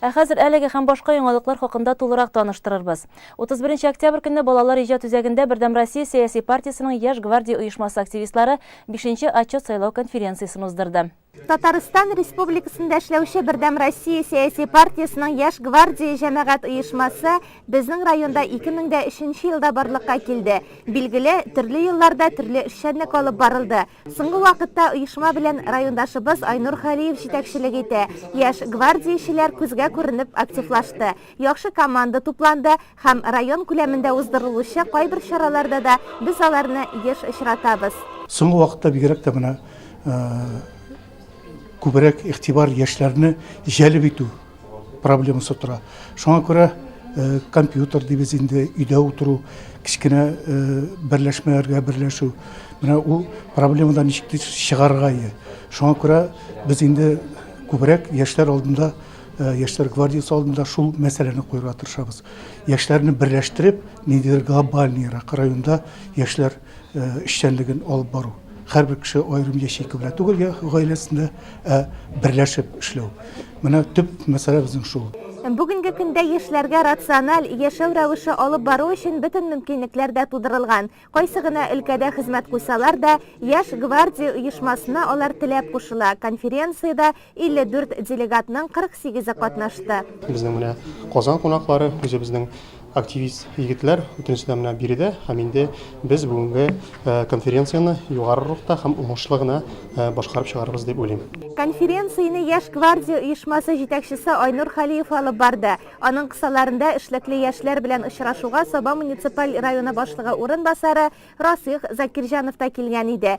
Ә хәзер әлеге һәм башка яңалыклар хакында тулырак таныштырырбыз. 31 октябрь көнне Балалар иҗат үзәгендә Бердәм Россия сәяси партиясенең Яшь гвардия оешмасы активистлары бишенче отчет сайлау конференциясен уздырды. Татарстан Республикасында эшләүче Бердәм Россия сәяси партиясенең Яшь гвардия җәмәгать оешмасы безнең районда 2003 елда барлыкка килде. Билгеле, төрле елларда төрле эшчәнлек алып барылды. Соңгы вакытта оешма белән райондашыбыз Айнур Халиев җитәкчелек итә. Яшь гвардиячеләр күзгә күренеп активлашты. Яхшы команда тупланды һәм район күләмендә уздырылучы кайбер чараларда да без аларны еш очратабыз. Соңгы вакытта бигрәк тә менә күбрәк игътибар яшьләрне җәлеп итү проблемасы тора. Шуңа күрә э, компьютер дибез инде, өйдә утыру, кечкенә э, берләшмәләргә берләшү. Менә ул проблемадан ничек тиз чыгарга ие. Шуңа күрә без инде күбрәк яшьләр алдында, э, яшьләр гвардиясе алдында шул мәсьәләне куярга тырышабыз. Яшьләрне берләштереп, ниндидер глобальныйрак районда яшьләр эшчәнлеген алып бару, һәрбер кеше аерым ячейка белән түгел, я гаиләсендә, ә берләшеп эшләү. Менә төп мәсьәлә безнең шул. Бүгенге көндә яшьләргә рациональ яшәү рәвеше алып бару өчен бөтен мөмкинлекләр дә тудырылган. Кайсы гына өлкәдә хезмәт куйсалар да, Яшь гвардия оешмасына алар теләп кушыла, конференциядә 54 делегатның 48-е катнашты. Безнең менә Казан кунаклары, үзебезнең активист егетләр, бөтенесе дә менә биредә. Һәм инде без бүгенге конференцияне югары рухта һәм уңышлы гына башкарып чыгарбыз дип уйлыйм. Конференцияне Яшь гвардия оешмасы җитәкчесе Айнур Халиев алып барды. Аның кысаларында эшлекле яшьләр белән очрашуга Саба муниципаль районы башлыгы урынбасары Расыйх Закирҗанов та килгән иде.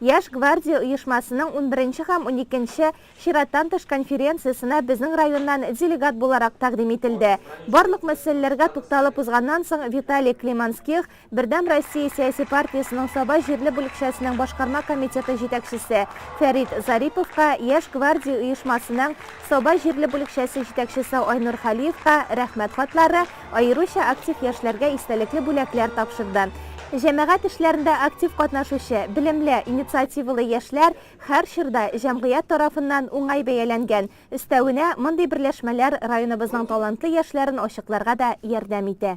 Яшь гвардия оешмасының унберенче һәм уникенче чираттан тыш конференциясенә безнең районнан делегат буларак тәкъдим ителде. Барлык мәсьәләләргә тукталып узганнан соң, Виталий Климанских, Бердәм Россия сәяси партиясенең Саба җирле бүлекчәсенең башкарма комитеты җитәкчесе Фәрит Зариповка, Яшь гвардия оешмасының Саба җирле бүлекчәсе җитәкчесе Айнур Хәлиевка Рәхмәт хатлары, Аеруча актив яшьләргә истәлекле бүләкләр тапшырды. Җәмәгать эшләрендә актив катнашучы, белемле, инициативалы яшьләр һәр чорда җәмгыять тарафыннан уңай бәяләнгән. Өстәвенә, мондый берләшмәләр районыбызның талантлы яшьләрен ачыкларга да ярдәм итә.